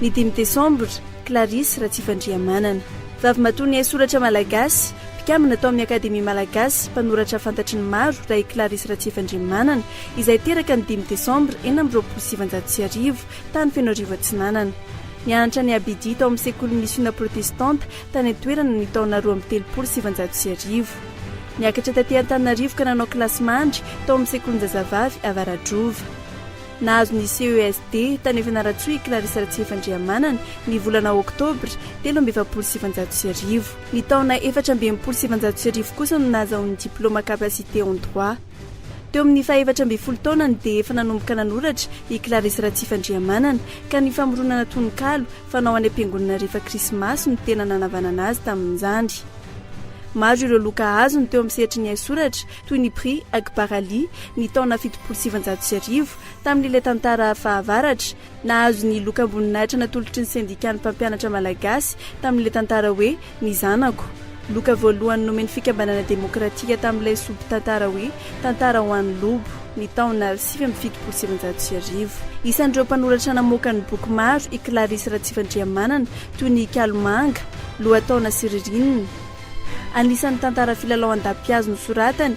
Ny dimy desambra, Clarisse Ratsifandrihamanana. Vavimatoan'ny haisoratra malagasy, mpikambana tao amin'ny Akademia malagasy, mpanoratra fantatry ny maro raha i Clarisse Ratsifandrihamanana, izay teraka ny dimy desambra enina amby roapolo sy sivinjato sy arivo, tany Fenoarivo Atsinanana. Nianatra ny Abidi tao amin'ny sekolin'ny misiona protestanta tany an-toerana ny taona roa amby telopolo sy sivinjato sy arivo. Niakatra taty Antananarivo ka nanao kilasy mandry tao amin'ny sekolin-jazavavy Avaradrova. Nahazo ny CESD tany Fianarantsoa i Clarisse Ratsiefandrihamanana ny volana oktobra telo amby efapolo sy sivinjato sy arivo. Ny taona efatra amby enimpolo sy sivinjato sy arivo kosa no nahazahoany diplaoma capacité en droit. Teo amin'ny fahefatra ambin'ny folo taonany dia efa nanomboka nanoratra i Clarisse Ratsiefandrihamanana ka ny famoronana tononkalo Fanao any am-piangonana rehefa Krismasy no tena nanavanana azy tamin'izany. Maro ireo loka azony teo amin'ny sehatry ny haisoratra, toy ny Prix Akbar Ali, ny taona fitopolo sy sivinjato sy arivo, tamin'ilay tantara fahavaratra. Nahazo ny lokamboninahitra natolotry ny Sendikan'ny Mpampianatra Malagasy, tamin'ilay tantara hoe Ny zanako. Loka voalohany nomen'ny Fikambanana Demokratika tamin'ilay sombin-tantara hoe Tantara ho an'i Lobo, ny taona sivy amby fitopolo sy efajato sy arivo. Isan'ireo mpanoratra namoaka ny boky maro i Clarisse Ratsifandrihamanana, toy ny Kalomanga, Lohataona sy Ririnina. Anisan'ny tantara filalao an-dapihazo nosoratany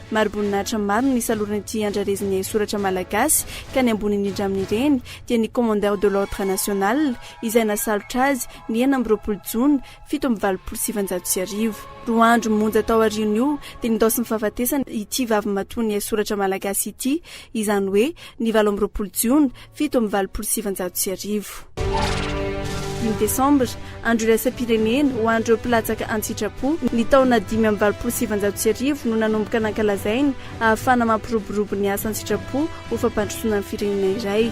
Mari-boninahitra maro no nisaloran'ity andrarezin'ny haisoratra malagasy ka ny ambony indrindra amin'ireny dia ny Commandeur de l'Ordre National izay nasalotra azy ny enina amby roapolo jona fito amby valopolo sy sivinjato sy arivo. Roa andro monja taorian'io dia nindaosin'ny fahafatesana ity vavimatoan'ny haisoratra malagasy ity, izany hoe ny valo amby roapolo jona, fito amby valopolo sy sivinjato sy arivo. Dimy Desambra, Andro Iraisam-pirenena ho an'ireo Mpilatsaka An-tsitrapo, ny taona dimy amby valopolo sy sivinjato sy arivo no nanomboka nankalazaina ahafahana mampiroborobo ny asa an-tsitrapo ho fampandrosoana ny firenena iray.